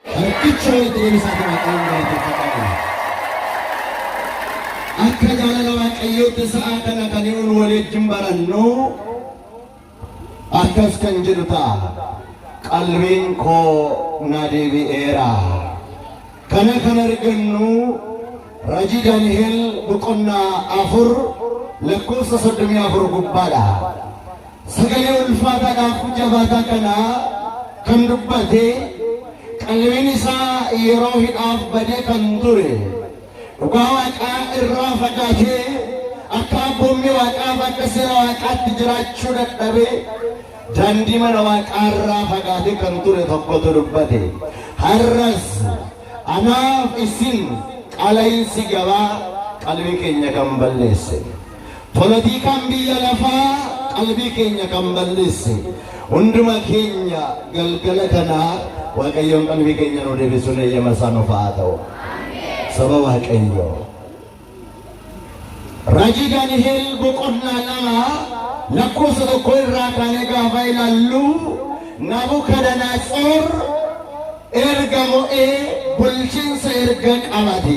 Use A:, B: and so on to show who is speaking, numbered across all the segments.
A: Harkicha walitti deebisaatii Waaqayyoon galateeffadhaa. Akka jaalala Waaqayyootti sa'a kana kan nuun waliin barannu akkas kan jedhu ta'a. Qalbiin koo na deebi'eera. Kana kan argannu Rajii Daani'el boqonnaa afur lakkoofsa soddomii afur gubbaadha. sagalee ulfaataa daakuu jabaataa kana kan dubbate qalbiin isaa yeroo hidhaaf badee kan ture dhugaa waaqaa irraa fagaatee akka abboommii waaqaaf akka seera waaqaatti jiraachuu dadhabee daandii mana waaqaa irraa fagaatee kan ture tokkotu dubbate har'as anaaf isin qala'iinsi gabaa qalbii keenya kan balleesse. Polotiikaan biyya lafaa qalbii keenya kan balleesse hunduma keenya galgala kana Waaqayyoon qalbii keenya nu deebisuun eeyyama isaa nuuf haa ta'u. Saba Waaqayyoo. Raajii Daani'eel boqonnaa lama lakkoofsa tokko irraa kaanee gaafa ilaallu Nabukadanatsoor erga mo'ee bulchiinsa erga qabate.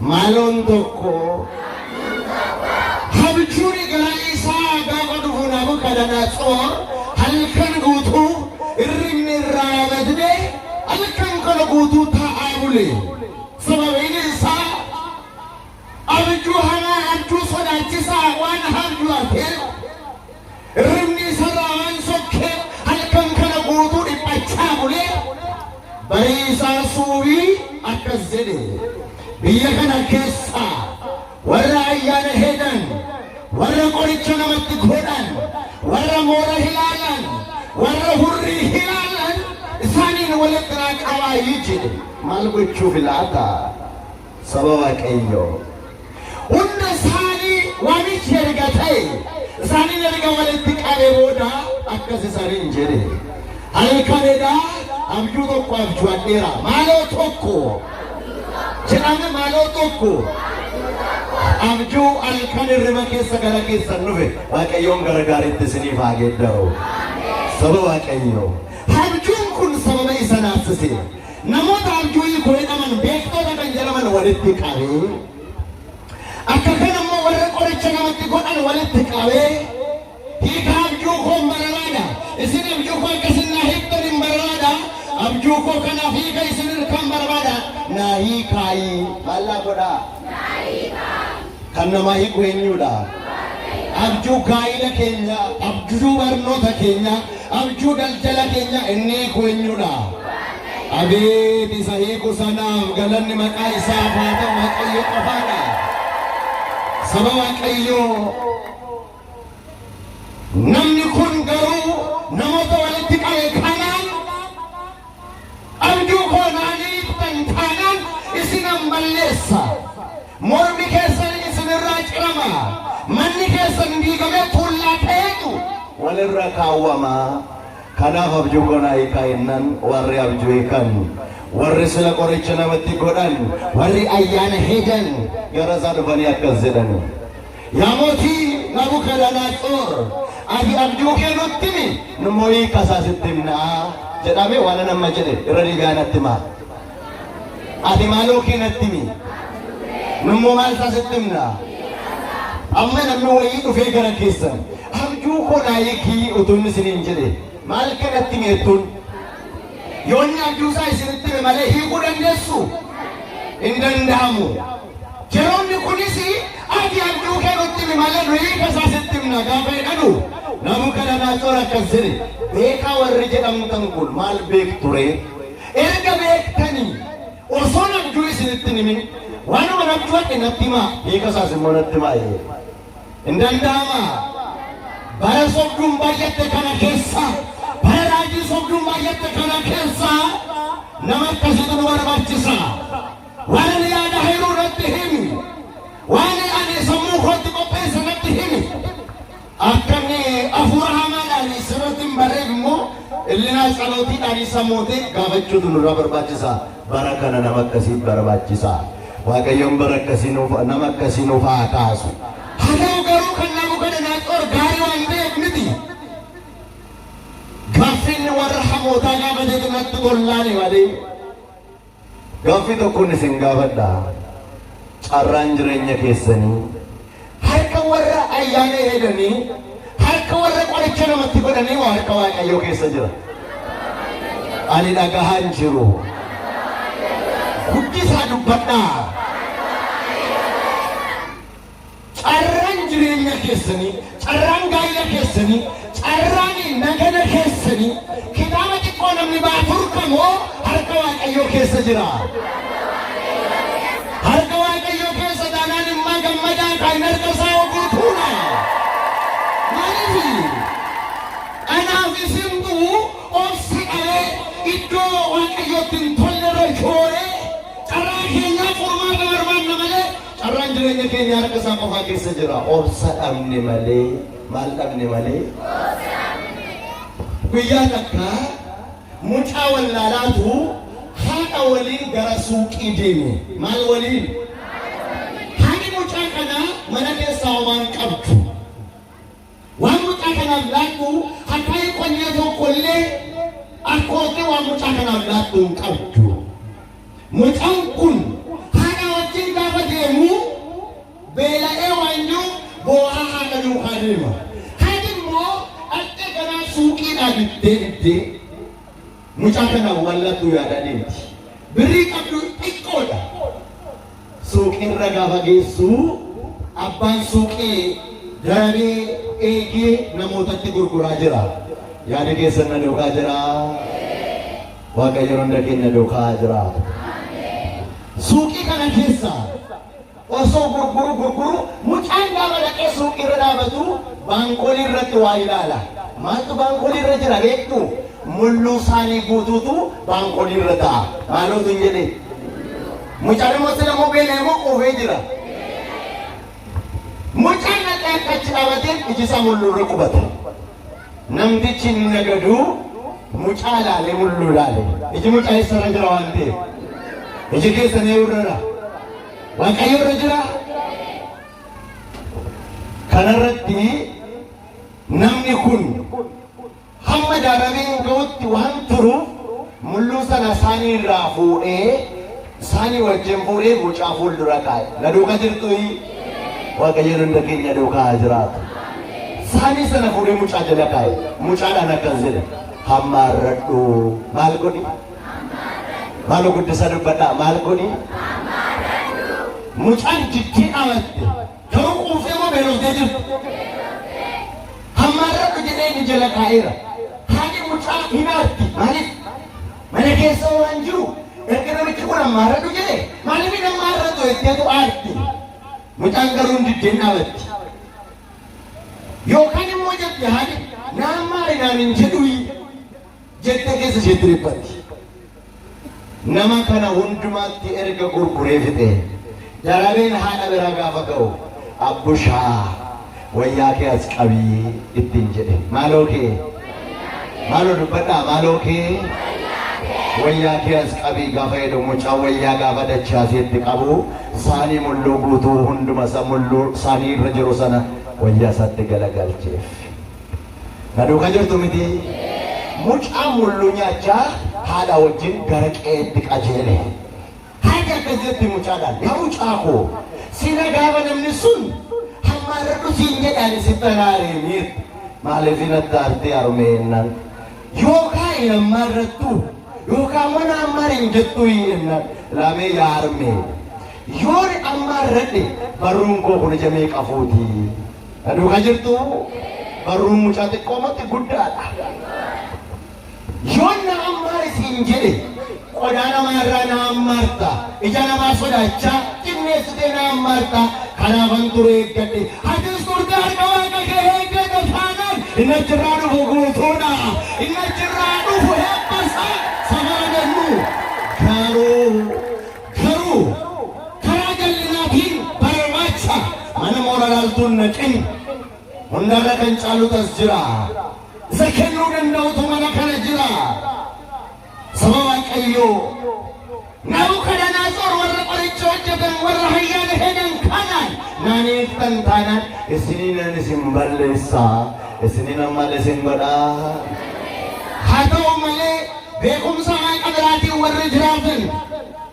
A: Maloon tokko habjuun gara isaa gaafa dhufu Nabukadanaatsoor halkan guutuu irribni irraa badne halkan kana guutuu taa'aa bule. Sababiin isaa abjuu hamaa abjuu sodaachisaa waan abjuu argeef Hirribni isarraa waan sokkeef halkan kana guutuu dhiphachaa bulee barii isaa suubii akkas jedhe biyya kana keessaa warra ayyaana heedan warra qoricha namatti godhan warra moora hilaalan warra hurrii hilaalan isaaniin walitti naa qabaayi jedhe maal gochuuf laata? Saba Waaqayyoo. Hunda isaanii waamichi erga ta'e isaaniin erga walitti qabe booda akkas isaaniin jedhe. Halkan edaa abjuu tokko abjuadheera. Maaloo tokko jedhame maaloo tokko abjuu halkan hirriba keessa gara keessan dhufe Waaqayyoon gara gaariitti isiniif haa geeddaru. Saba Waaqayyoo. Abjuun kun sababa isa naasise. Namoota abjuu hiiku jedhaman beektoota kan jedhaman walitti qabee akka kana immoo warra qoricha namatti godhan walitti qabee hiika abjuu koo hin barbaada isin abjuu koo akka isin naa hiiktan hin barbaada abjuu koo kanaaf hiika isin kan barbaada naa hiikaayii maallaa godhaa. Kan namaa hiiku eenyuudha? Abjuu gaa'ila keenya, abjuu barnoota keenya, abjuu daldala keenya inni hiiku eenyuudha? Abeet isa hiiku sanaaf galanni maqaa isaaf haa ta'u Waaqayyo qofaadha. Saba Waaqayyoo Namni kun garuu namoota walitti qabe kanaan abjuu koo naan hiiktan taanaan isinan balleessa. Mormi keessan isinirraa cirama. Manni keessan diigamee tuullaa ta'eetu walirra kaawwama. Kanaaf abjuu koo naa hiikaa jennaan warri abjuu hiikan, warri sila qoricha namatti godhan, warri ayyaana hedan gara isaa dhufanii akkas jedhani. Yaa mootii Nabukadanatsoor, ati abjuu kee nutti himi, nu immoo hiika isaa sitti himna jedhame waan ani amma jedhe irra deebi'aa natti himaa. Ati maaloo kee natti himi, nu immoo maal isaa sitti himna. Amma namni wayii dhufee gara keessan abjuu koo naa hiikii utuu inni isiniin jedhe maal kanatti himi jettuun? Yoo inni abjuusaa isinitti hime malee hiikuu dandeessuu? Hin danda'amu. Yeroonni kunis ati abjuu kee nutti himi malee nu hiika isaa sitti himna gaafa jedhanu namu kana naatoo akkas jedhe beekaa warri jedhamtan kun maal beekture erga beektanii osoo abjuu isinitti himin waanuma natti wadhe natti himaa hiika isaas immoo natti himaa jedhe. Hin danda'ama. Bara sobduun baay'atte kana keessa, bara raajii sobduun baay'atte kana keessa nama akkasiitu nu barbaachisa. Waan ani yaada hayruu irratti himi, waan ani sammuu kootti qopheesse natti himi. Akka inni hafuura hamaadhaan sirratti hin barreef immoo illinaa calootiidhaan isa mootee gaafachuutu nurraa barbaachisa. Bara kana nama akkasiif barbaachisa. Waaqayyoon bara akkasii nuuf nama akkasii nuuf haa kaasu. Haa ta'u garuu kan Nabukadanaaxoor gaarii waan ta'eef miti. Gaaffiin warra hamootaa gaafatee kanatti tollaani malee. Gaaffii tokkoon isin gaafadha. Carraan jireenya keessanii Harka warra ayyaana eeganii, harka warra qoricha namatti godhanii waa harka Waaqayyoo keessa jira. Ani dhagahaa hin jiru. Guddisaa dubbadhaa. Carraan jireenya keessanii, carraan gaa'ila keessanii, Carraani nagana keessani kitaaba xiqqoo namni baafur kamoo harka waaqayyoo keessa jira. Harka waaqayyoo keessa taanaan immaa gammadaa kan harka isaa oguu tuuna. Maaliifi? Kanaaf isintu obsa qabee iddoo waaqayyootti hin tolle irra shooree carraa keenyaa furmaata barbaanna malee carraan jireenya keenya harka isaa qofaa keessa jira. Obsa dhabne malee. Maal dhabne malee? Guyyaa takka mucaa wallaalaatu haadha waliin gara suuqii deeme. Maal waliin? Haadhi mucaa kanaa mana keessaa waan qabdu. Waan mucaa kanaaf laattu hattaa'ee qonnee tokkollee akkootti waan mucaa kanaaf laattu hin qabdu. Mucaan kun haadha wajjin gaafa deemu Beela'ee waan jiru boo'aa haadha duukaa deema. Kaan immoo dhaqxe ganaa suuqiidhaa bittee bittee mucaa kana wallattuu yaada deemti. Birrii qabdu xiqqoodha. Suuqiirra gaafa geessu abbaan suuqii darabee eegee namootatti gurguraa jira. Yaada keessan na duukaa jira. Waaqayyo hunda keenya duukaa jira. Suuqii kana keessa Osoo gurguru gurguru mucaan gaafa dhaqee suuqii irra dhaabatu baankolii irratti waa ilaala. Maaltu baankolii irra jira beektu? Mulluu saanii guutuutu baankolii irra ta'a. Maaloo sin jedhe. Mucaan immoo sila immoo beela immoo quufee jira. Mucaan dhaqee akka achi dhaabateen iji isaa mulluu irra qubata. Namtichi inni nagadu mucaa ilaalee mulluu ilaale. Iji mucaa eessarra jira waan ta'eef. Iji keessan eewurrara. Waaqayyo irra jira. Kanarratti namni kun hamma daaramee hin ga'utti waan turuuf mulluu sana isaanii irraa fuudhee isaanii wajjin fuudhee mucaa fuuldura kaa'e. Na duuka jirtuyi Waaqayyo hunda keenya duukaa haa jiraatu. Isaanii sana fuudhee mucaa jala kaa'e. Mucaadhaan akkas jedhe. Hamma arradhu maal godhi? Maaloo guddisa dubbadhaa maal godhi? Mucaan jittii amatte garuu quuftee moo beelooftee jirti? Hammaarradhu jedhee inni jala kaa'eera. Haati mucaa hinaarti maaliif? Mana keessa waan jiru erga namichi kun hammaarradhu jedhe maaliif hin hammaarratu jetteetu aarti. Mucaan garuu hin diddeen dhaabatti. Yookaan immoo jette haati naan maali naan hin jedhu jette keessa isheetti dhiphatti. Nama kana hundumaatti erga gurguree fixe darabeen haadha biraa gaafa ga'u abbushaa wayyaa kee as qabii ittiin jedhe maaloo kee maaloo dubbadhaa maaloo kee wayyaa kee as qabii gaafa jedhu mucaa wayyaa gaafa dachaasee itti qabu saanii mulluu guutuu hunduma isa mulluu saanii irra jiru sana wayyaa isaatti galagalcheef. Na duuka jirtu miti? Mucaan mulluu nyaachaa haadhaa wajjin gara qe'eetti qajeele. Haati akkas jetti mucaadhaan, Yaa mucaa koo, sila gaafa namni sun hammaarradhu siin jedhaani sitti haraaree miirti. Maaliif natti aartee harmee ennaan? Yookaa hin hammaarrattu yookaa immoo na hammaar hin jettu ennaan. Laamee yaa harmee, yoon hammaarradhe barruun koo kun ija meeqa fuuti? Na duuka jirtu barruun mucaa xiqqoo matti guddaadha. Yoon na ammaar isin jedhe qodaa namaa irraa na ammaarta. Ija namaa sodaachaa xinneessitee na ammaarta. Kanaafan ture eeggadhe. Atis turte harka waaqa kee eeggata taanaan inni achirraa dhufu guutuudha. Inni achirraa dhufu hebbasa safara jennu. Garuu Garuu karaa jallinaa fi barbaacha mana moora laaltuun naqin hundarra kan caalutas jira. Isa kennuu danda'utu mana kana jira. Saba Waaqayyoo Nabu kadhanaasor warra qoricha hojjetan warra hayyaana hedan kanaan naaniiftan taanaan isininan isin balleessa isininan mal isin godhaa. Haa ta'u malee Beekumsa Waaqa biraatiin warri jiraatan,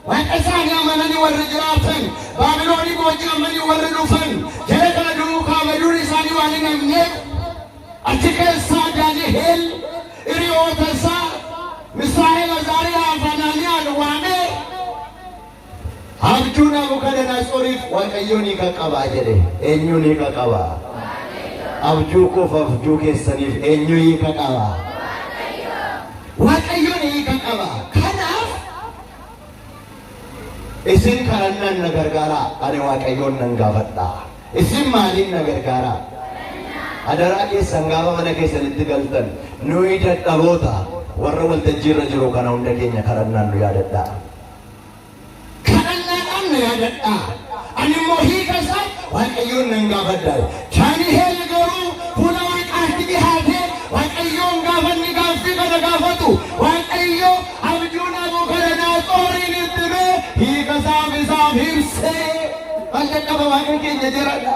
A: Waaqa isaanii amananii warri jiraatan, Baabiloonii booji'amanii warri dhufan, jara kana duukaa baduun isaanii waan hin hafneef, achi keessaa Daani'eel hiriyoota isaa Misaa'el, Azaariyaa fi Anaaniyaan waamee Abjuu Naabukadanaatsoriif Waaqayyoon hiika qaba jedhe. Eenyuun hiika qaba? Abjuu koof abjuu keessaniif eenyu hiika qaba? Waaqayyoon hiika qaba. Kanaaf isin kadhannaan na gargaaraa, ani Waaqayyoon nan gaafadha. Isin maaliin na gargaaraa? Adaraa keessan gaafa mana keessanitti galtan nuyi dadhaboota warra waltajjiirra jiru kana hunda keenya kadhannaan nu yaadadhaa. kadhannaadhaan na yaadadhaa. Ani immoo hiika isaa Waaqayyoon nan gaafadha. Daani'eel garuu fuula Waaqaatti dhihaatee Waaqayyoon gaafa inni gaaffii kana gaafatu Waaqayyo abjuu Nabukadanaatsoorin itti himee hiika isaaf isaaf ibsee maal jalqaba Waaqa keenya jiradha.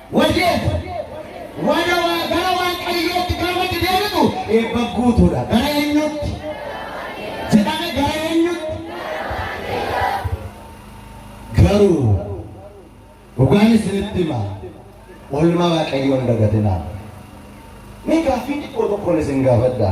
A: Wayyoo! Warra waa gara Waaqayyootti gaafatti deebitu eebba guutuudha. Gara eenyutti? Jedhame gara eenyutti? Garuu dhugaan isinitti hima. Oolmaa Waaqayyoon dagatinaa. Mee gaaffii xiqqoo tokkoon isin gaafadha.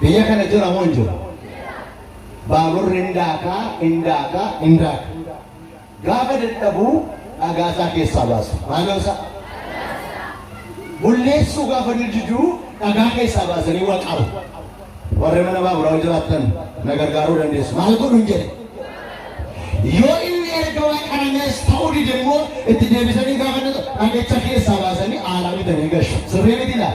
A: Biyya kana jira moo hin jiru? Baaburri hin daaka, hin daaka, hin daaka. Gaafa dadhabu dhagaa isaa keessaa baasu. Maaloo isaa? Bulleessuu gaafa dididu dhagaa keessaa baasanii waa qabu. Warri mana baaburaa jiraattan na gargaaruu dandeessu. Maal godhu hin jedhe? Yoo inni erga waa qaramees ta'uu dide immoo itti deebisanii gaafa dhagacha keessaa baasanii aaraa bitanii gashu. Sirrii miti laa?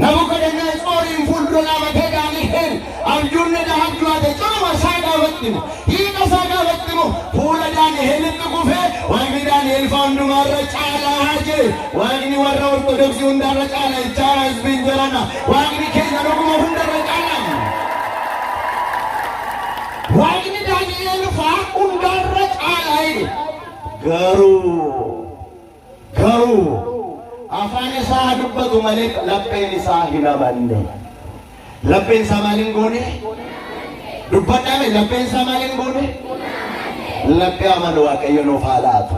A: Nabukadanatsoorin fuuldura dhaabatee Daani'el abjuun ni dhaha abju'ate cunuma isaa gaafatti mo hiika isaa gaafatti mo fuula Daani'elitti kufee waaqni Daani'el faa hundumaa irra caalaa haa jee waaqni warra ortodoksii hundaa irra caalaa ichaa hasbiin jarana waaqni keenya dhuguma hunda irra caalaa waaqni Daani'el faa hundaa irra caalaa jedhe garuu Garuu afaan isaa haa dubbatu malee lapheen isaa hin amanne. Lapheen isaa maal hin goone? Dubbadhaame lapheen isaa maal hin goone? Laphee amanu Waaqayyo nuuf haa laatu.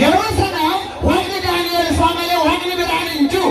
A: Yeroo sana waaqni Daani'el isaa malee waaqni biraan hin jiru.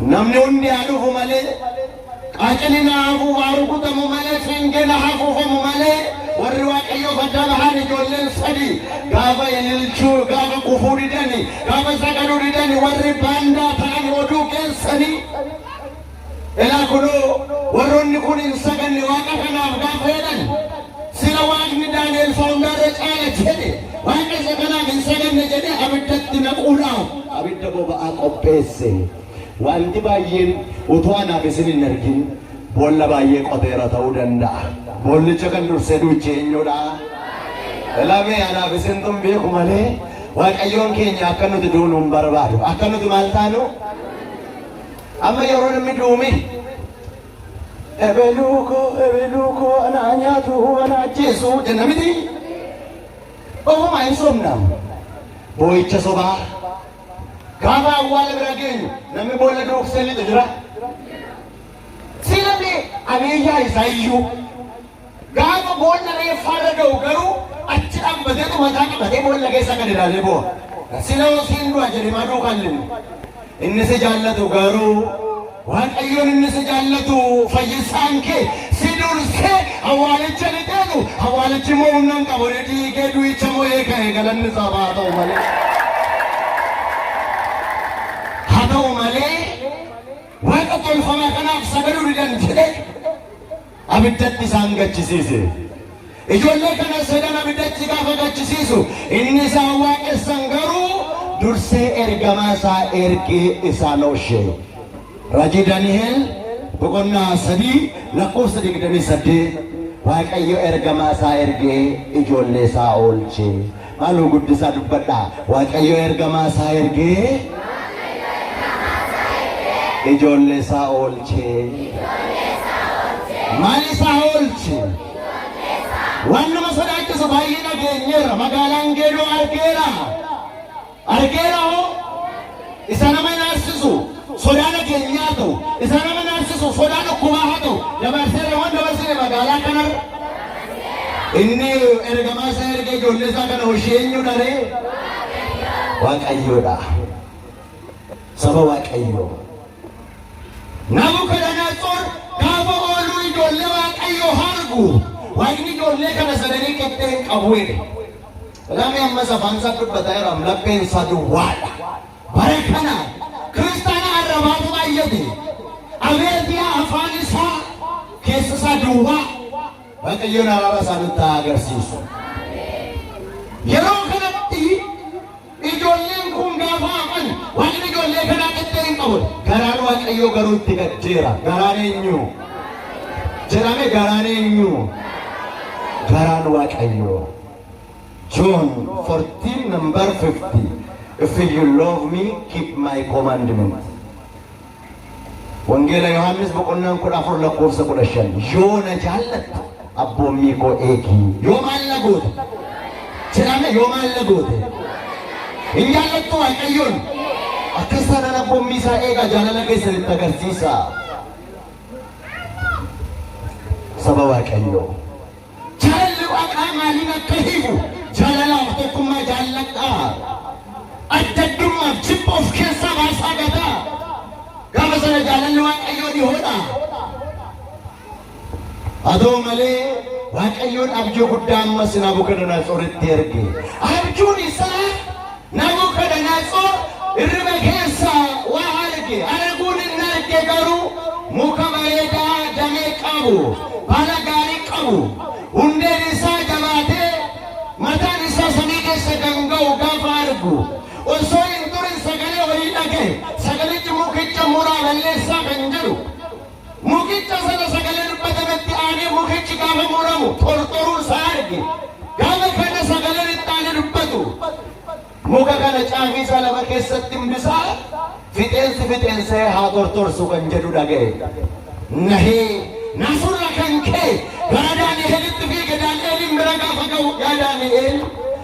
A: Namni hundi haa dhufu malee, qaaciliin haa hafu, haa rukutamu malee, fiingeen haa hafuufamu malee, warri Waaqayyoof adda bahan ijoolleen sadi gaafa ililchuu, gaafa kufuu didani, gaafa sagaduu didani, warri baandaa ta'an oduu keessanii. Ilaa kunoo warroonni kun hin saganne Waaqa kanaaf gaafa jedhan. Sila Waaqni Daani'el faa hundaarra caala jedhe Waaqa isa kanaaf hin saganne jedhee abiddatti naquudhaaf abidda boba'aa qopheesse. Wanti baay'een utuu anaaf isin hin argin boolla baay'ee qoteera ta'uu danda'a. Boollicha kan dursee duuche eenyudha? Lamee anaaf isintu hin beeku malee Waaqayyoon keenya akka nuti duunu hin barbaadu. Akka nuti maal taanu? Amma yeroo namni duume Ebeluu koo ebeluu koo anaa nyaatuu anaa ajjeesuu jenna miti. Ofumaa hin sobna. Boo'icha sobaa. Gaafa awwaala bira geenyu namni boolla duuksee lixu jira. Sii namni abiyyaa isaa iyyuu. Gaafa boolla reeffaarra ga'u garuu achi dhambateetu mataa qabatee boolla keessa gad ilaalee boo'a. Sila osiin du'a jedhe maduu kan linnu. Inni si jaallatu garuu Waaqayyoon inni si jaallatu fayyisaan kee si dursee awwaalicha ni deemu awwaalichi immoo humna hin qabu ni dhiigee du'icha moo'ee ka'e galanni isaaf haa ta'u malee. Haa ta'u malee waaqa tolfamaa kanaaf sagaduu didan jedhee abiddatti isaan gachisiise. Ijoollee kana sadan abiddatti gaafa gachisiisu inni isaan waaqessan garuu dursee ergamaa isaa ergee isaan oolche. Rajii Daniheel boqonnaa sadii lakkoofsa digdamii saddeet Waaqayyo ergamaa isaa ergee ijoollee isaa oolche. Maaloo guddisaa dubbadhaa. Waaqayyo ergamaa isaa ergee ijoollee isaa oolchee. Maal isaa oolche? Waan nama sodaachisu baay'ee dhageenyeerra. Magaalaan geedoo argeera. Argeera hoo? Isa nama naarsisu sodaa nageenyaa haa ta'u, isa nama naarsisu sodaa dhukkubaa haa ta'u, dabarseera waan dabarsine magaalaa kanarra. Inni ergamaa isaa ergee ijoollee isaa kana hoshii eenyudha ree? Waaqayyoodha. Saba Waaqayyoo. Nabukadanatsor gaafa ooluu ijoollee Waaqayyoo hargu, Waaqni ijoollee kana sadanii qixxee hin qabu jedhe. Namni ammas afaan isaa dubbata jedhamu lapheen isaa duwwaadha. Bara kana kiristaana arrabaatu baay'ate. Abeet yaa afaan isaa keessa isaa duwwaa. Waaqayyoon araara isaa nutti haa agarsiisu. Yeroo kanatti ijoolleen kun gaafa hafan waaqni ijoollee kanaa qixxee hin qabu. Garaan Waaqayyoo garuu itti gaddeera. Garaan eenyu? Jedhame garaan eenyu? Garaan Waaqayyoo. John 14 number 50 If you love me keep my commandment Wangeela Yohaannis boqonnaan 14 lakkoofsa 15 yoo na jaallatte abboommii koo eegi yoo maal na goote jedhame yoo maal na goote hin jaallattu waaqayyoon akkas taanaan abboommii isaa eega jaalala keessan itti agarsiisa saba waaqayyoo. Jaalalli waaqaa maaliin akka hiiku jaalalaaf tokkummaa jaalladhaa. Adda addummaaf jibba of keessaa baasaa gataa. Gaafa sana jaalalli waaqayyoo dhihoodha. Haa ta'u malee waaqayyoon abjuu guddaa ammas Naabukadanaasoritti erge. Abjuun isaa Nabukadanatsor hirriba keessa waa arge, arguun inni arge garuu muka bareedaa damee qabu, baala gaarii qabu, hundeen isaa jabaatee mataan isaa samii keessa kan ga'u gaafa argu, osoo hin turin sagalee wayii dhaga'e, sagalichi mukicha muraa balleessaa kan jedhu. Mukicha sana sagalee dubbatametti aanee mukichi gaafa muramu tortoruu isaa arge. Gaafa kana sagaleen itti aanee dubbatu. Muka kana caafii isaa lafa keessatti himbisaa fixeensi fixeensee haa tortorsu kan jedhu dhaga'e. Nahee nasurra kan ka'e gara Daani'eelitti fiige Daani'eeliin bira gaafa ga'u yaa Daani'eel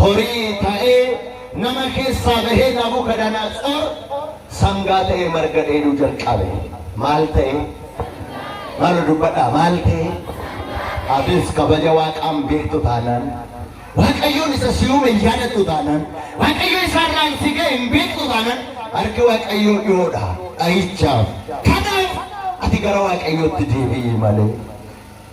A: horii ta'ee nama keessaa bahee Nabukadanatsoor sangaa ta'ee marga dheeduu jalqabe. Maal ta'ee? Maal dubbadhaa? Maal ta'ee? Atis kabaja waaqaan beektu taanaan Waaqayyoon isa si uume hin yaadattu taanaan Waaqayyo isaarraan si ga'e hin beektu taanaan harki Waaqayyoo dhiyoodha dhahichaaf. Kanaaf ati gara Waaqayyootti deebi'i malee.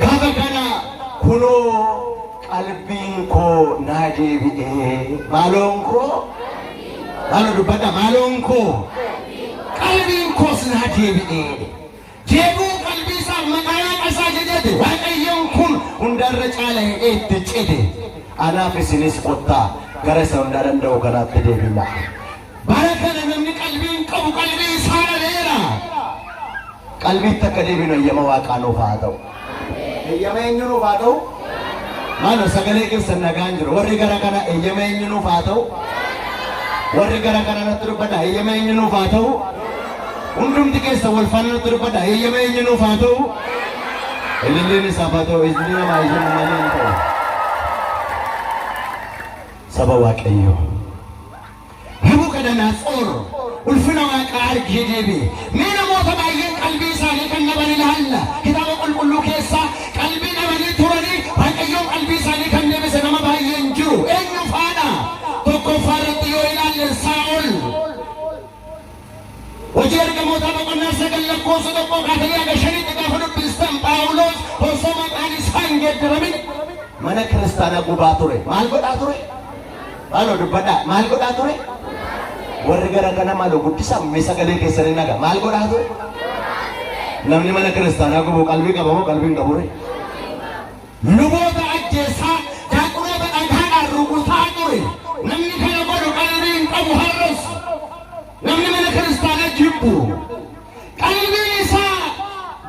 A: Gaafa kana kunoo qalbiin koo naa deebi'ee maaloon koo maalo dubbadha maaloon koo qalbiin koos naa deebi'ee jeequu qalbii isaa maqaa waaqa isaa jajate waaqayyoon kun hundarra caala hidhee itti cite anaaf isinis kottaa gara isa hundaa danda'u kanaatti deebina. Bara kana namni qalbii hin qabu qalbii isaa dhaleera. Qalbiitti akka deebinu eeyyama waaqaa nuuf haa ta'u. Eeyyama eenyu nuuf haa ta'u? Maaloo sagalee keessan nagaan jiru. Warri gara kana eeyyama eenyu nuuf haa ta'u? Warri gara kana natti dubbadha eeyyama eenyu nuuf haa ta'u? Hundumti keessa wal faana natti dubbadha eeyyama eenyu nuuf haa ta'u? Ililliin isaaf haa ta'u ijni namaa ijni malee hin ta'u. Saba Waaqayyoo. Nabukadanatsoor ulfina waaqaa argee deebi'e. Mee namoota baay'een qalbii isaanii kan dhaban ilaalla. Kitaaba qulqulluu keessaa qalbii dhabanii turanii Waaqayyoon qalbii isaanii kan deebise nama baay'ee hin jiru. Eenyu faadha? Tokkoffaa irratti yoo ilaalle Saa'ol. Hojii Ergamootaa boqonnaa 9 lakkoofsa 1 kaasanii haga 5tti gaafa dubbistan Phaawulos osoo maqaan isaa hin geeddaramin mana kiristaanaa gubaa ture. Maal godhaa ture? Maaloo dubbadhaa. Maal godhaa ture? Warri gara kana maaloo guddisaa mee sagalee keessanii naga. Maal godhaa ture? Namni mana kiristaanaa gubu qalbii qaba moo qalbii hin qabu? Luboota ajjeessaa, daaqonoota dhagaadhaan rukutaa ture. Namni kana godhu qalbii hin qabu har'as. Namni mana kiristaanaa jibbu. Qalbiin isaa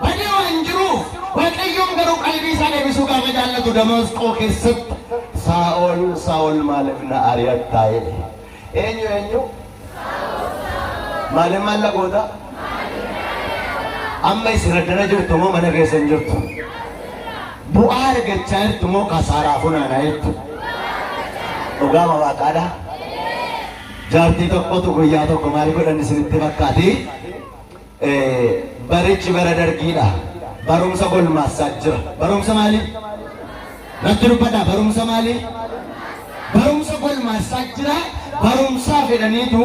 A: badee waan jiruuf Waaqayyoon garuu qalbii isaa deebisuu gaafa jaallatu Damaasqoo keessatti Saa'ol Saa'ol maaliif na ari'attaa jedhe. Eenyu eenyu? Maaliif maal na goota? Amma isin addana jirtu moo mana keessa hin jirtu? Bu'aa argachaa jirtu moo kasaaraa funaanaa jirtu? Dhugaa ma waaqaadha? Jaartii tokkotu guyyaa tokko maal godhan isinitti fakkaati? Barichi bara dargiidha. Barumsa golmaassaa jira. Barumsa maalii? Natti dubbadhaa barumsa maalii? Barumsa golmaassaa jira. Barumsaa fedhaniitu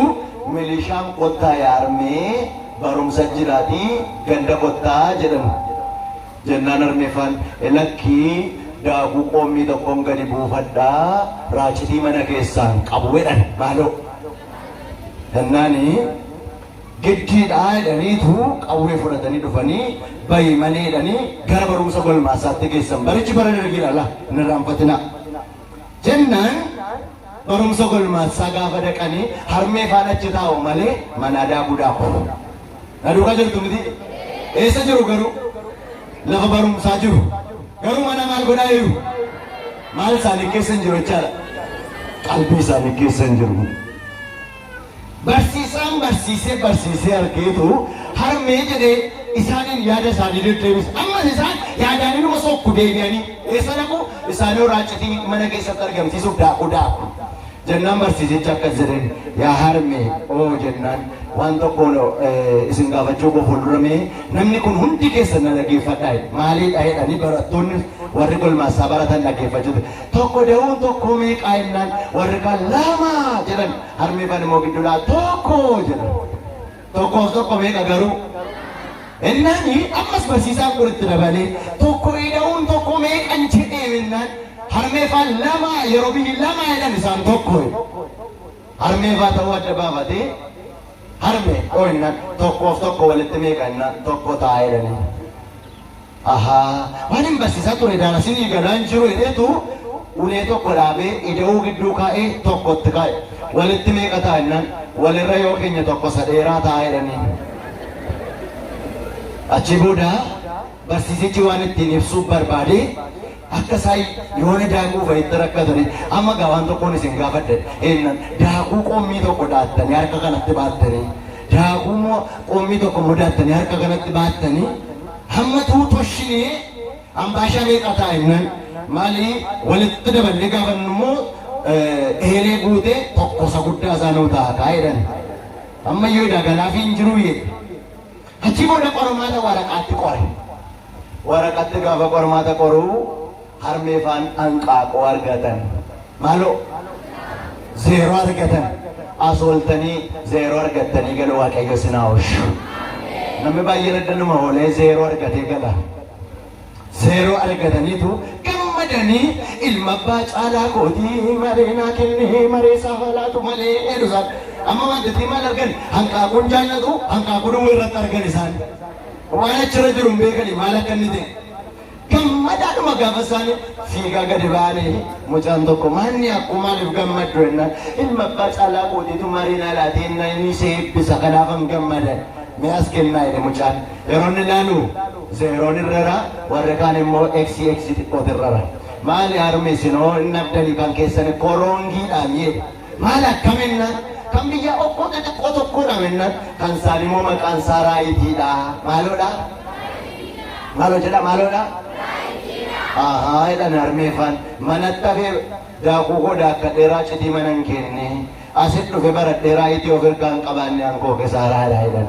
A: milishaan kottaa yaarmee barumsa jiraatii ganda kottaa jedhamu. Jennaan armeefaan lakkii daakuu qoommii tokkoon gadi buufadhaa raacitii mana keessaan qabu jedhan maaloo. Jennaanii Giddiidha jedhaniitu qawwee fudhatanii dhufanii bayi malee jedhanii gara barumsa golmaasaatti geessan. Barichi bara dargiidha laa hin irraanfatinaa. Jennaan barumsa golmaasaa gaafa dhaqanii harmee faana achi taa'u malee manaa daakuu daaku. Na duukaa jirtu miti? Eessa jiru garuu? Lafa barumsaa jiru. Garuu mana maal godhaa jiru? Maal isaanii keessa hin jiru jechaadha. Qalbii isaanii keessa hin jiru. Barsiisaan barsiisee barsiisee argeetu harmee jedhee isaaniin yaada isaanii deddeebisa. Ammas isaan yaadaan inuma sokku deebi'anii eessa dhaqu isaanii raacitii mana keessatti argamsiisuuf daakuu daaku. Jennaan barsiisichi akkas jedheen yaa harmee oo jennaan waan tokko eh, isin gaafachuu koo fuuldura mee namni kun hundi keessan na dhaggeeffadhaa jedhe. Maalii dhahedhanii barattoonni warri golmaasaa baratan dhaggeeffachuu. Tokko da'uun tokkoo meeqaa jennaan warri kaan lama jedhan harmee fan immoo gidduudhaa tokko jedhan. Tokkoof tokko meeqa garuu? Innaan ammas barsiisaan kun itti dabalee tokko ida'uun tokko meeqan jedhee innaan harmee faan lama yeroo biyyi lama jedhan isaan tokko harmee faa ta'uu adda baafatee harmee dhoo innaan tokkoof tokko walitti meeqa innaan tokko taa'ee jedhanii. Ahaa waanin barsiisaa ture daalasinii galaan jiru jedheetu ulee tokko dhaabee ida'uu gidduu kaa'ee tokko itti kaa'e. Walitti meeqa ta'a jennaan walirra yoo keenya tokko isa dheeraa ta'a jedhaniin. Achii booda barsiisichi waan ittiin ibsuuf barbaade akka isaan yoona daakuu fa'itti rakkatanii amma gaa waan tokkoon isin gaafadhe jennaan daakuu qommii tokko dhaattanii harka kanatti baattanii daakuu immoo qommii tokko immoo daattanii harka kanatti baattanii Hamma tuu toshini ambaashaa meeqa ta'a innaan maali walitti daballee gaafannu immoo ehelee guute tokko isa guddaa isaa nuu ta'a kaa jedhan. Amma iyyuu edaa galaafii hin jiruu jedhe. Achi booda qormaata waraqaatti qore. Waraqaatti gaafa qormaata qoruu Harmee faan hanqaaquu argatan maaloo zeeroo argatan as ooltanii zeeroo argattanii galu waaqayyo isin haa oolchu. Namni baay'een addanuma oolee zeeroo argatee gala. Zeeroo argataniitu gammadanii ilma abbaa caalaa kootii maree naa kennee maree isaa haa laatu malee jedhu isaan. Amma wantitii maal argan hanqaaquun jaallatu hanqaaquu duwwaa irratti argan isaan. Waan achirra jiru hin beekani maal akka inni ta'e. Gammadaadhuma gaafa isaanii fiigaa gadi ba'anii mucaan tokko maanni akkuu maaliif gammaddu jennaan ilma abbaa caalaa kootiitu marii naa laatee innaa inni si eebbisa kanaafan gammada mi'aas kennaa jedhe mucaan yeroo inni laalu zeeroon irrara warri kaan immoo eksi eksi xiqqooti irrara maali harmi isinoo inni abdanii kan keessan koroongiidhaan jedhe Maal akkam ennaan, kan biyyaa okkoo xixiqqoo tokkoodha mennaan, kan isaan immoo maqaan isaa Raayidiidha. Maaloodha? Maaloo jedha maaloodha? Ahaa jedhan harmeefaan manatti hafee daakuu koo daakkadheeraa citii mana hin kenne asit dhufe baradheeraa itii of ergaa hin qabaanne ankoo kesaaraadha jedhan.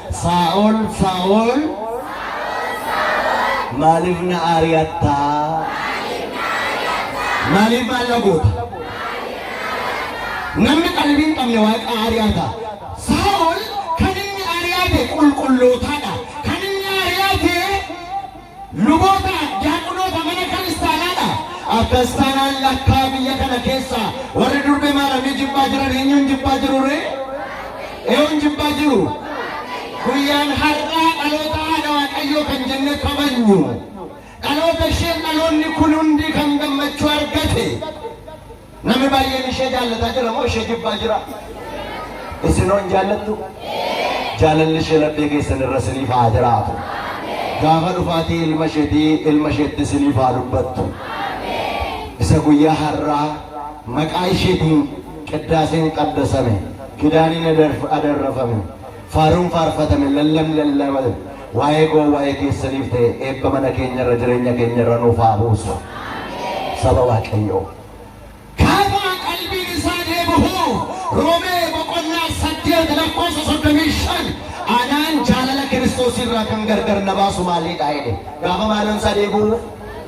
A: Saa'ol, Saa'ol, maaliif na ari'atta? Maaliif maal na goota? Namni qalbii hin qabne waaqa ari'ata. Saa'ol kan inni ari'ate qulqullootaadha. Kan inni ari'ate Luboota, Diyaaqunoota mana kiristaanaa dha. Akkas taanaan lakkaa biyya kana keessa warri durbe maaramii jibbaa jiran eenyuun jibbaa jiru ree? Eenyuun jibbaa jiru? Guyyaan har'aa dhaloota haadha Waaqayyoo kan jennee kabajnu. Dhaloota isheen dhaloonni kun hundi kan gammachuu argate. Namni baay'een ishee jaallataa jira moo ishee jibbaa jira? Isin hoon jaallattu? Jaalalli ishee laphee keessan irra isiniif haa jiraatu. Gaafa dhufaatii ilma isheetii ilma isheetti isiniif haa dubbattu. Isa guyyaa har'aa maqaa isheetiin qiddaaseen qaddasame kidaaniin adarf- adarrafame Faaruun faarfatame lallabni lallabame waa'ee koo waa'ee keessaniif ta'e eebba mana keenyarra jireenya keenyarra nuuf haa buusu saba waaqayyoo. Gaafa qalbiin isaa deebi'u Roomee boqonnaa 8 lakkoofsa 35 anaan jaalala Kiristoos irraa kan gargar na baasu maalidha jedhe gaafa maalon isaa deebi'u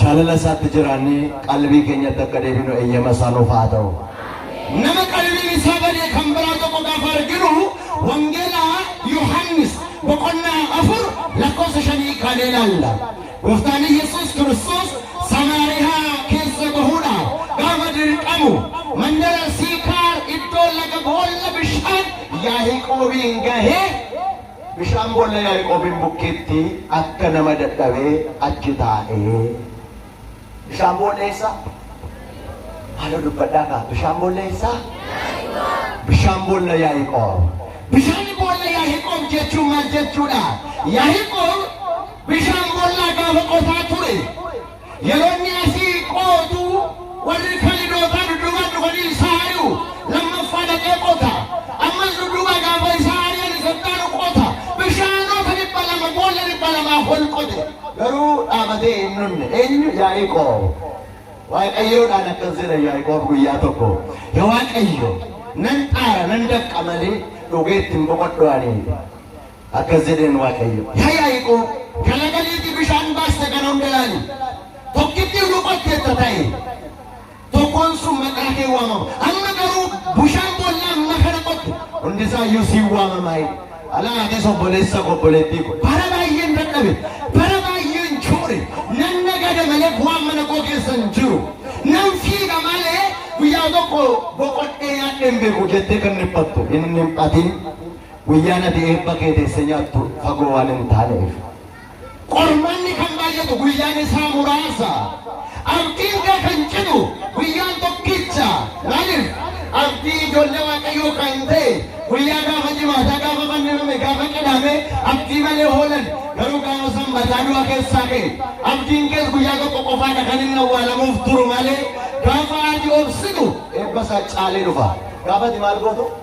A: Jaalala isaatti jiraannee qalbii keenyatti akka deebinu eeyyama isaa nuuf haa ta'u. Nama qalbiin isaa badee kan biraa tokko gaafa arginu wangeela Yohaannis boqonnaa afur lakkoofsa shanii kan ilaalla. Gooftaan Yesuus Kiristoos Samaariyaa keessa bahuudhaaf gaafa dirqamu mandara Siikaar iddoo laga boolla bishaan Yaaqoobiin gahee Bishaan boolla Yaaqoobiin bukkeetti akka nama dadhabee achi taa'e. Bishaan boolla eessaa? Maaloo dubbadhaa kaa. Bishaan boolla eessaa? Bishaan boolla Yaaqoob. Bishaan boolla Yaaqoob jechuun maal jechuudha? Yaaqoob bishaan boollaa gaafa qotaa ture. Yeroo inni asii qootu warri kalidootaa dudduuba dhufanii isaa ari'u. Lammaffaa dhaqee qota. Ammas dudduuba gaafa isaa ari'an isa dhaalu qota. Bishaanota dhibba lama boolla dhibba lamaa ol qote. Garuu dhaabatee hin dhumne. Eenyu? Yaaqoob. Waaqayyoodhaan akkas jedha Yaaqoob guyyaa tokko. Yaa Waaqayyo nan xaara nan dafqa malee dhugeetti hin boqodhu ani. Akkas jedheen Waaqayyo, Yaa Yaaqoob, kan laga liixii bishaan baaste kana hunda ilaali. Tokkitti utuu qotteetta ta'e, tokkoon sun maqaa kee waamama. Amma garuu bishaan boollaa amma kana qotte, hundi isaa iyyuu siin waamama. Alaa atis obboleessa koo obboleettii koo, bara baay'een dadhabe, bara baay'een joore, nan nagada malee bu'aan mana koo keessa hin jiru. Nan fiiga malee guyyaa tokko boqodhee nyaadhee hin beeku jettee kan dhiphattu hin dhiphatin. Guyyaan ati eebba kee teessee nyaattu fagoo waan hin taaneef. Qormaanni kan baay'atu guyyaan isaa muraasa. Abdiin kee kan citu guyyaan tokkicha. Maaliif? Abdii ijoollee Waaqayyoo kan ta'e guyyaa gaafa jimaataa gaafa fannifame gaafa qidhaame abdii malee hoolan garuu gaafa sanbataa du'a keessaa ka'e. Abdiin kees guyyaa tokko qofaadha kan inni awwaalamuuf turu malee gaafa ati obsitu eebba isaa caalee dhufa. Gaafa ati maal gootu?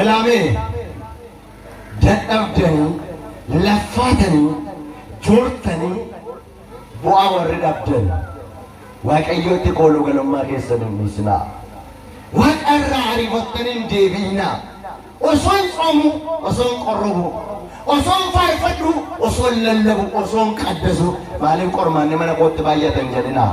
A: Ilaamee dadhabdanii laffaatanii joortanii bu'aa warri dhabdan waaqayyootti kooluu galummaa keessan hin dhiisinaa. Waaqa irraa ariifattanii hin deebiinaa. Osoon tsoomuu, osoon qorrobuu, osoon faarfadhuu, osoon lallabuu, osoon qaddasuu maaliif qormaanni mana kootti baay'atan jedhinaa.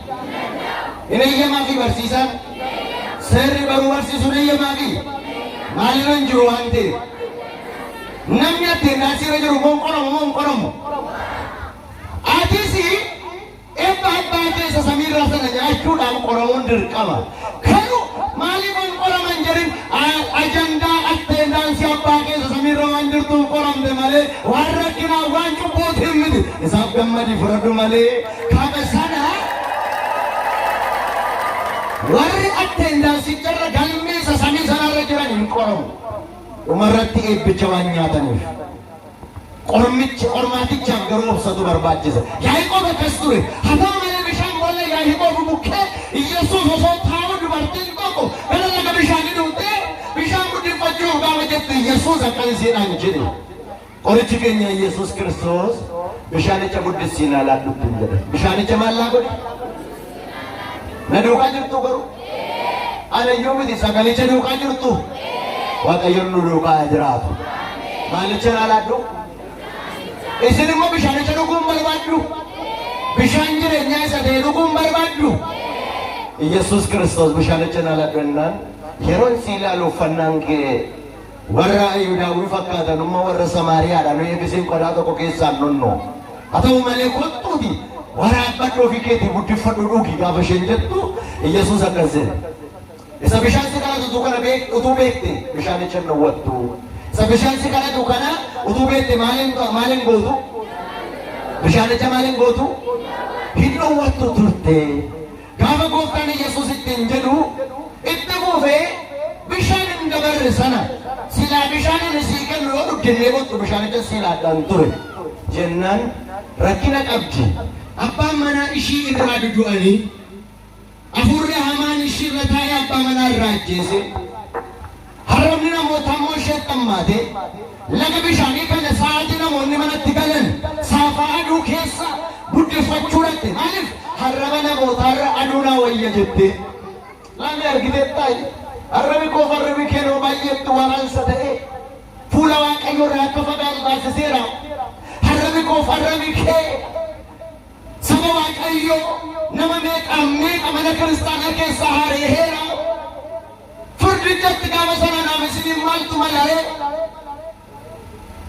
A: Hin eeyyamaafii barsiisaan. Seerri baruu barsiisuun eeyyamaafii. Maalirra hin jiru waan ta'eef. Namni atteendaansirra jiru immoo hin qoramu moo hin qoramu. Atis ebba abbaa keessa samiirraa sana nyaachuudhaan qoramuun dirqama. Garuu maaliif hin qoraman jedhin ajandaa atteendaansi abbaa keessa samiirra waan jirtuuf qoramte malee waan rakkinaa waan cubbuutiin miti isaaf gammadi fudhadhu malee kaaba sana warri atteendaansiicharra galmeessa samii sanarra jiran hin qoramu dhumarratti eebbicha waan nyaataniif. Qormicha qormaatichaaf garuu obsatu barbaachisa. Yaaqoob akkas ture. Haa ta'u malee bishaan boolla Yaaqoob bukkee Yesuus osoo taa'uu dubartiin tokko gara laga bishaanii dhuftee bishaan guddiffachuuf gaafa jette Yesuus akkas isiidhaan jedhe. Qorichi keenya Yesuus Kiristoos bishaanicha guddisii ilaalaa dhugdu jedhe. Bishaanicha maal laa godhe? Na duukaa jirtu garuu? Ana iyyuu miti sagalicha duukaa jirtu? Waaqayyoon nu duukaa haa jiraatu. Maalicha naa laaddu? Isin immoo bishaanicha dhuguun barbaaddu? Bishaan jireenyaa isa ta'e dhuguun barbaaddu? Yesus Kiristoos bishaanicha naa laaddu jennaan yeroon si ilaalu uffannaan kee Warra Ayuudaa nu fakkaatan umma warra Samaariyaadha nu eebisiin qodaa tokko keessaan dhunnu. Haa ta'u malee kottuuti waraabbadhu ofii keetii guddiffadhu dhugi gaafa isheen jettu Iyyasuus akkas jedhe. Isa bishaan si kadhatu kana beek utuu beekte bishaanicha hin dhowwattu. Isa bishaan si kadhatu kana utuu beekte maaliin maaliin gootu? Bishaanicha maaliin gootu? Hin dhowwattu turte. Gaafa gooftaan Iyyasuus ittiin jedhu itti fuufee bishaan hin dabarre sana silaa bishaan inni sii kennu yoo dhugde illee bottu bishaanicha sii laadhaan ture jennaan rakkina qabdi. Abbaan manaa ishii irraa dudu'anii afuurri hamaan ishii irra taa'ee abbaa manaa irraa ajjeese. Haroorri namootaa immoo isheetti hammaatee laga bishaanii kana sa'aatii namoonni manatti galan saafaa aduu keessa buddeffachuu dhaqxe maaliif harraba namootaarra aduu naa wayya jettee laamee argiteettaa harrabi koo farrabi keenoo baay'eetti waraansa ta'ee fuula waaqayyo irraa akka fagaatu taasiseera harrabi koo farrabi kee saba waaqayyo nama meeqaan meeqa mana kiristaanaa keessaa haareeheera Firdichatti gaafa sana naaf isiniin maaltu malaa'e?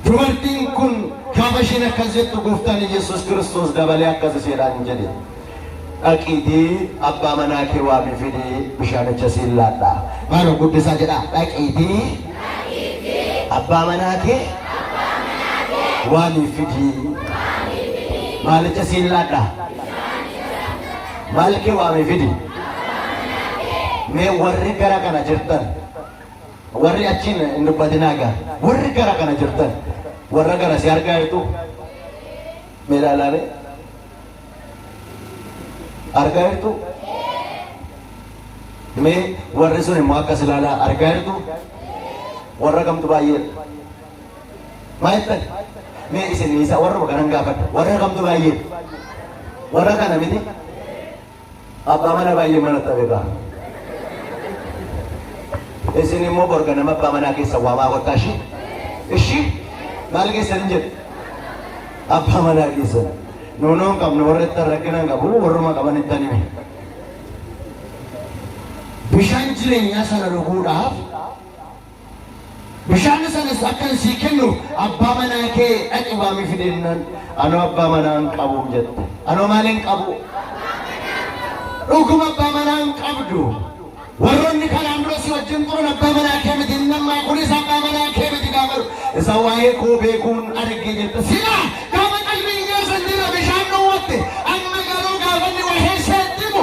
A: Dubartiin kun gaafa isheen akkas jettu gooftaan Yesuus Kiristoos dabalee akkas isheedhaan jedhe. Dhaqiitii abbaa manaa kee waamii fidii bishaanicha siin laadhaa. Maaloo guddisaa jedhaa dhaqiitii abbaa manaa kee waamii fidii maalicha siin laadhaa. Malkii waamii fidi. Mee warri gara kana jirtan warri achiin hin dubbatinaa gaa warri gara kana jirtan warra gara si argaa jirtu mee ilaalaame argaa jirtu mee warri sun immoo akkas ilaalaa argaa jirtu warra kamtu baay'ee Baay'attan mee isin isa warruma kanan gaafadha. Warra kamtu baay'ee? Warra kana miti? Abbaa mana baay'ee mana ta'e ba'a. Isin immoo borga nama abbaa manaa keessa waamaa kottaa ishii? Ishii? Maal keessan hin jedhu? Abbaa manaa keessan. Nuunoon qabnu warra ittiin rakkina hin qabu warruma qaban ittiin hime. Bishaan jireenyaa sana dhuguudhaaf Bishaan sanas akkan sii kennu abbaa manaa kee dhaqi waami fide jennaan anoo abbaa manaa hin qabu jette. Anoo maal hin qabu? Dhuguma abbaa manaa hin qabdu. Warroonni kanaan dura si wajjin turan abbaa manaa kee miti inni ammaa kunis abbaa manaa kee miti gaafa isa waa'ee koo beekuun arge jette. Silaa gaafa qalbiin keessan jira bishaan dhowwatte amma garuu gaafa inni waa'ee isheetti himu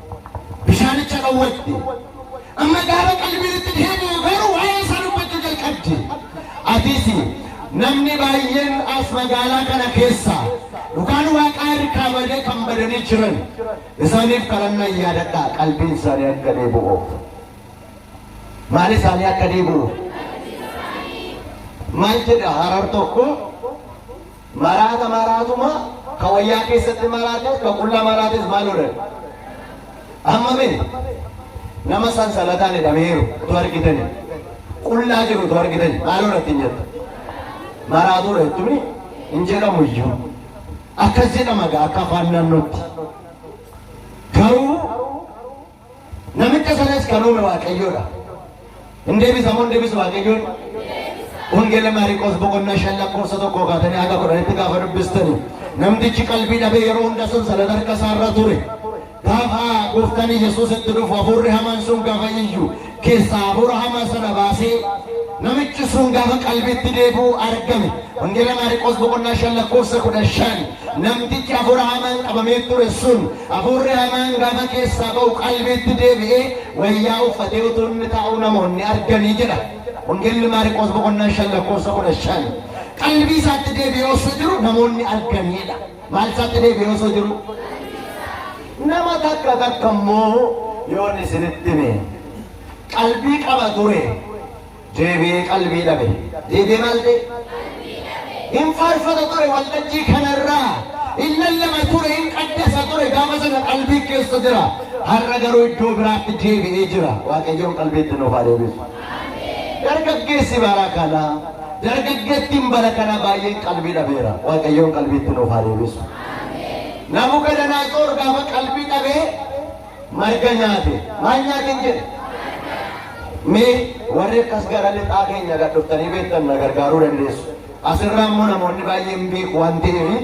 A: Bishaanicha dhowwatte. Amma gaafa qalbiin itti deebi'u garuu waa'ee isaa dubbachuu jalqabde. Atis namni baay'een as magaalaa kana keessa dhugaan waaqaa harkaa badee kan badanii jiran isaaniif kadhannaa yaadadhaa qalbiin isaanii akka deebi'uuf. Maal isaanii akka deebi'uuf? Maal jedha harar tokko? Maraata maraatuma ka wayyaa keessatti maraates ka qullaa maraates maal godhan? Amma mee nama sansalataan hidhameeru utuu argitani qullaa jiru utuu argitani maal godhatti hin jettu? Maraatuudha jettuni hin jedhamu iyyuu. Akkas jedhama gaa akka afaan naannootti. Garuu Namicha sanas kan uume Waaqayyoodha. Hin deebisa moo hin deebisu Waaqayyoon? Wangeela Maariqoos boqonnaa shan lakkoofsa tokkoo kaatanii haga kudhanitti gaafa dubbistani. Namtichi qalbii dhabee yeroo hunda sun sanada harka isaarra ture. Gaafa gooftaan Yesuus itti dhufu hafuurri hamaan sun gaafa iyyu keessaa hafuura hamaa sana baasee namichi sun gaafa qalbiitti deebi'u argame. Wangeela Maariqoos boqonnaa shan lakkoofsa kudha shan namtichi hafuura hamaan qabamee ture sun hafuurri hamaan gaafa keessaa ba'u qalbiitti deebi'ee wayyaa uffatee utuu inni taa'u namoonni arganii jedha. Wangeelli Maariqoos boqonnaa shan lakkoofsa kudha shan qalbii isaatti deebi'ee osoo jiru namoonni arganiidha. Maal isaatti deebi'ee osoo jiru? Nama takka takka immoo yoon isinitti hime qalbii qaba ture deebi'ee qalbii dhabe. Deebi'ee maal ta'e? Hin faarfata ture waltajjii kanarraa hin lallaba ture hin qaddasa ture gaafa sana qalbii keessa jira. Har'a garuu iddoo biraatti deebi'ee jira. Waaqayyoon qalbiitti nuuf haa deebisu. Dargaggeessi bara kana, dargaggeettiin bara kana baay'een qalbii dhabeera. Waaqayyoon qalbiitti nuuf haa deebisu. Nabukadanaatsor gaafa qalbii dhabee marga nyaate. Maal nyaateen jedhe? Mee warri akkas gara lixaa keenya gad dhuftanii beektan na gargaaruu dandeessu. Asirraa immoo namoonni baay'een beeku waan ta'eef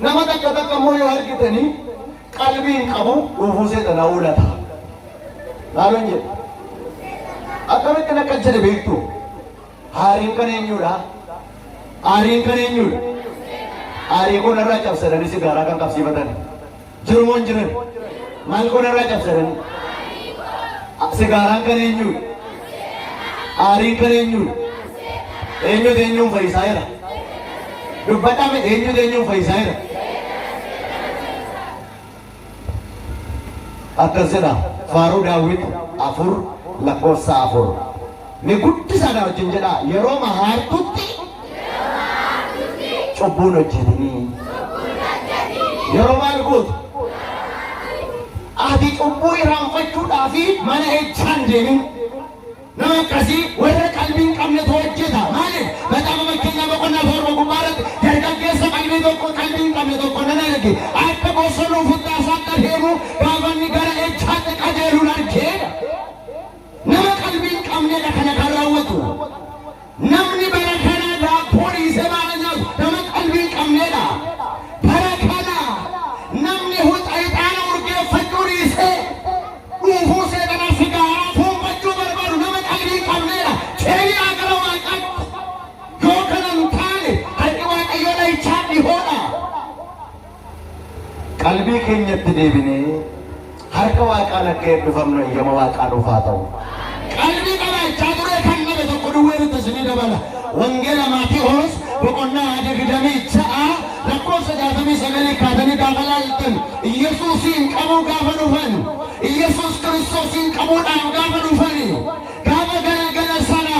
A: Nama takka takka immoo yoo argitani qalbii hin qabu dhuufuu seeta na oolata. Maaloon jedhu. Akkamittiin akka jedhe beektu. Haariin kan eenyudha? Aariin kan eenyudha? Aarii kun irraa cabsadanii sigaaraa kan qabsiifatan. jiru moo hin jiran maal goona irraa cabsatanii sigaaraan kan eenyuudha aariin kan eenyuudha eenyutu eenyuun fayyisaa jira dubbadhame eenyutu eenyuun fayyisaa jira akkas jedha faaruu daawwit afur lakkoofsa afur Me guddisa na wajjin jedha yeroo mahaartutti cubbuun hojjetinii yeroo maal gootu ati cubbuu irraanfachuudhaa fi mana hechaan deemin nama akkasii warra qalbii hin qabnetu hojjeta maaliif maxaafa fakkeenyaa boqonnaa torba gubbaa irratti dargaggeessa qalbii tokko qalbii hin qabne tokko nan arge akka bosonuu futtaasaatti adeemu gaafanni gara hechaatti qajeeluun argeedha Nama qalbii hin qabneedha kana kan raawwatu. Namni bara kana daabboo dhiisee maala nyaatu nama qalbii hin qabneedha. Bara kana namni hucca ixaana urgeeffachuu dhiisee dhuufuu seexanaa sigaaraa fuunfachuu barbaadu nama qalbii hin qabneedha. Keeniyaa gara waaqaatti yoo kana hin taane harki waaqayyoo dhahichaa dhihoodha. Qalbii keenyatti deebinee harka Waaqaan akka eebbifamnu eeyyama Waaqaa nuuf haa ta'u. Qalbii qabaachaa turee kan dhabe tokko duwwee nutti isinii dabala. Wangeela Maatewos boqonnaa 26 lakkoofsa 69 kaatanii gaafa laaltan Iyyasuusiin qabuu gaafa dhufan Iyyasuus Kiristoosiin qabuudhaan gaafa dhufan Gaafa galgala sana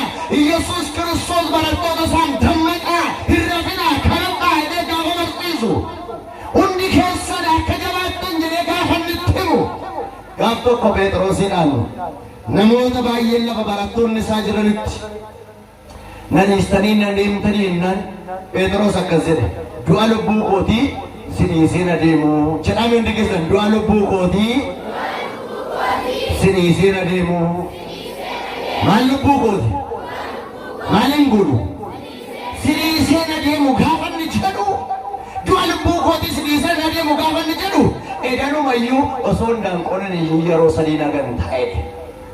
A: Yesuus Kiristoos barattoota isaan dammaqaa, hin rafinaa, kadhadhaa jedhee gaafa barsiisu, hundi keessan akka jabaattan jedhee gaafa inni itti himu, gaaf tokko Pheexiroosidhaan namoota baay'een lafa barattoonni isaa jiranitti Nan dhiistanii nan deemtanii jennaan Pheexiroos akkas jedhe du'a lubbuu kootii si dhiisee na deemu jedhaa hundi keessan du'a lubbuu kootii si dhiisee na deemu maal lubbuu kooti maal hin godhu si dhiisee na deemu gaafa inni jedhu du'a lubbuu kootii si dhiisee na deemu gaafa inni jedhu edanumayyuu osoo hin daanqonin iyyuu yeroo sadii nagan ta'e.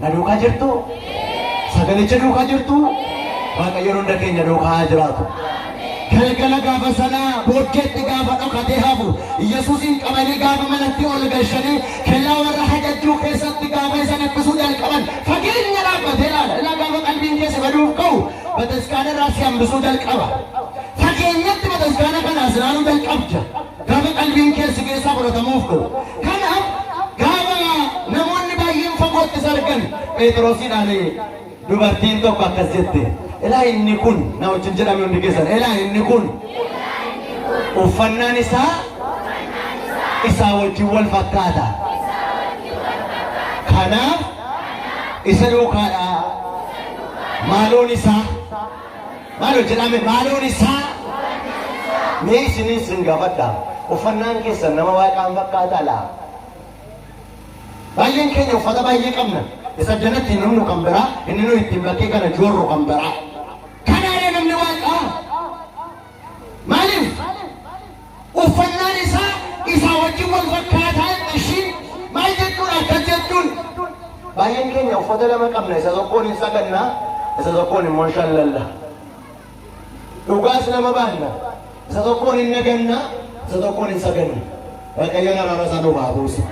A: Na duukaa jirtu? Sagalicha duukaa jirtu? Waaqayyoon hunda keenya duukaa haa jiraatu. Galgala gaafa sanaa booddeetti gaafa dhokatee hafu Yesuusiin qabanii gaafa manatti ol galchanii kellaa warra hajajjuu keessatti gaafa isa dhiphisuun jalqaban fageenya dhaabbatee ilaala. Ilaa gaafa qalbiin keessa baduuf ka'u bataskaana irraa si hambisuu jalqaba. Fageenyatti bataskaana kanaas ilaaluu jalqabda. Gaafa qalbiin kee si keessaa fudhatamuuf dho. Kanaaf gaafa namoonni baay'een fagootti isa argan Pheexiroosidhaan dubartiin tokko akkas jette. Ilaa inni kun na wajjin jedhame hundi keessan. Ilaa inni kun uffannaan isaa isaa wajjin wal fakkaata. Kanaaf isa duukaadhaa maaloon isaa Maal hojjetame maaloon isaa mee isiniin sin gaafadha. Uffannaan keessan nama waaqaan fakkaataa laa? Baay'een keenya uffata baay'ee qabna. Isa jalatti hin humnu kan biraa, inni nuyi ittiin bakkee kana joorru kan biraa. Maaliif? Uffannaan isaa isaa wajjin wal fakkaataan ishii maal jechuudha akkas jechuun? Baay'een keenya uffata lama qabna isa tokkoon hin saganna isa tokkoon immoo hin shallalla. Dhugaas nama baanna isa tokkoon hin naganna isa tokkoon hin saganna. Waaqayyoon araara isaa nuuf haa buusu.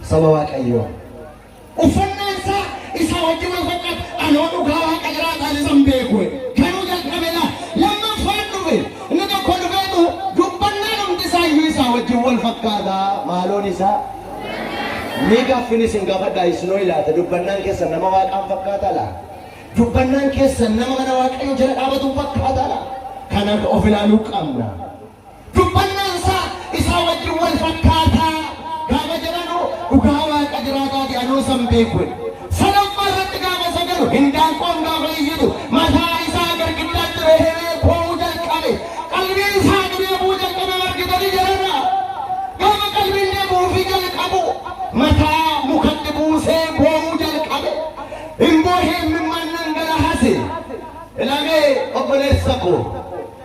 A: Saba Waaqayyoo. Uffannaan isaa isaa wajjin wal fakkaata. Anoo dhugaa waaqa jiraataan isan beeku. Garuu jalqabe laa lammaffaan dhufe. Inni tokko dhufeetu dubbannaan hundi isaa iyyuu isaa wajjin wal fakkaata. Maaloon isaa mee gaaffiin isin gaafadhaa isinoo ilaata dubbannaan keessan nama waaqaan fakkaata laa? Dubbannaan keessan nama mana waaqayyoo jala dhaabatuun fakkaata laa? Kanaaf of ilaaluu qabna. Dubbannaan isaa isaa wajjin wal fakkaata gaafa jedhanu dhugaa Waaqa jiraataati anuu isa hin beeku jedhe. Sadaffaa irratti gaafa isa jedhu hindaanqoon gaafa iyyitu mataa isaa girgiddaatti reheree boo'uu jalqabe. Qalbiin isaa deebi'uu jalqabe margitanii jedhana. Gaafa qalbiin deebi'uufii jalqabu mataa mukatti buusee boo'uu jalqabe. Hin boohee imimmaan dhangalahase. Ilamee obboleessa koo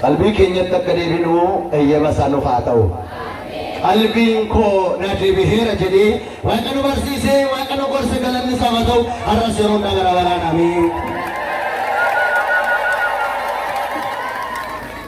A: Qalbii keenyatti akka deebinu eyyama isaa nuuf haa ta'u. Qalbiin koo na deebiheera jedhee Waaqa nu barsiise, Waaqa nu gorse galanni isaaf haa ta'u. Har'as yeroo hunda gara baraan ameen.